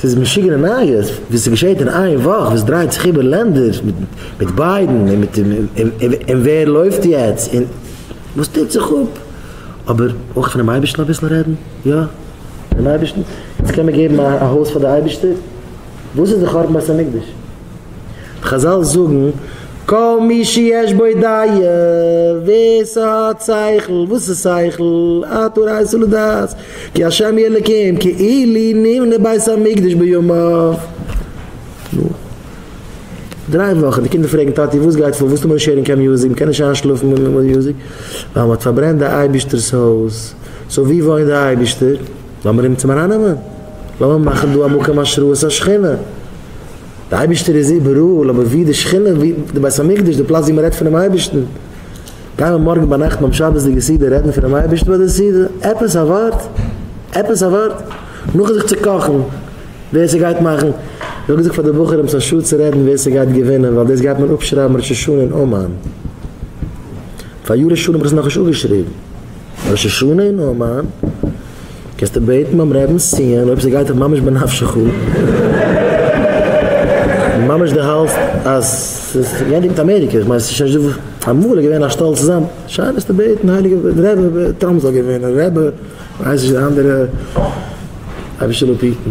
ס'איז משוגענע נייעס וואס עס געשעהט אין איין וואך וואס דרייט זיך איבער לענדער מיט ביידן און מיט און ווער לויפט יעצט און וואס טוט זיך אפ אבער אויך פונעם אייבערשטן אביסל רעדן יא פונעם אייבערשטן יעצט קען מען געבן א הויז פאר די אייבערשטער וואס איז די חורבן בית המקדש חזל זאגן כל מי שיש בו דעה ווער ס'האט שכל וואס איז שכל התורה איסור לדעת כי השם יהיה אלוקים כי אילי נבנה בית המקדש בימיו. נו. דריי וואכן די קינדער פרעגן טאטי וואס גייט פאר וואס טו מיר נישט הערן קיין מוזיק מ'קען נישט איינשלאפן מיט מוזיק ווייל מ'האט פארברענט די אייבישטער'ס הויז. סאו ווי וואוינט די אייבישטער? לאמיר אים צום ארייננעמען. לאמיר מאכן דא א מקום השראת השכינה. די אייבישטער איז איבעראל אבער ווי די שכינה ווי די בית המקדש די פלאץ ווי מ'רעדט פונעם אייבישטן. גיי מען מארגן ביינאכט ביים שבת'דיגע סעודה רעדן פונעם אייבערשטן ביי די סעודה? עפעס א ווארט? עפעס א ווארט? נאכן זיך צוקאכן ווער ס'גייט מאכן, איך האב געזאגט פאר די בחורים ס'איז א שאד צו רעדן ווער ס'גייט געווינען ווייל דאס גייט מען אפשרייבן ראש השנה אין אומאן. פאריאר ראש השנה האב איך עס נאכנישט אפגעשריבן, ראש השנה אין אומאן. קענסט בעטן ביים רעבען סיון אויב ס'גייט דיך ממש בנפשך אן, ממש די האלסט אז ס'איז גענדיגט מיט אמעריקע, כ'מיין ס'איז שוין נישט אמאל איז געווען א שטאלץ צוזאם, שיין ביסטו בעטן הייליגע רעבע טראמפ זאל געווינען, רעבע ווייס נישט די אנדערע אבישלע פיטן.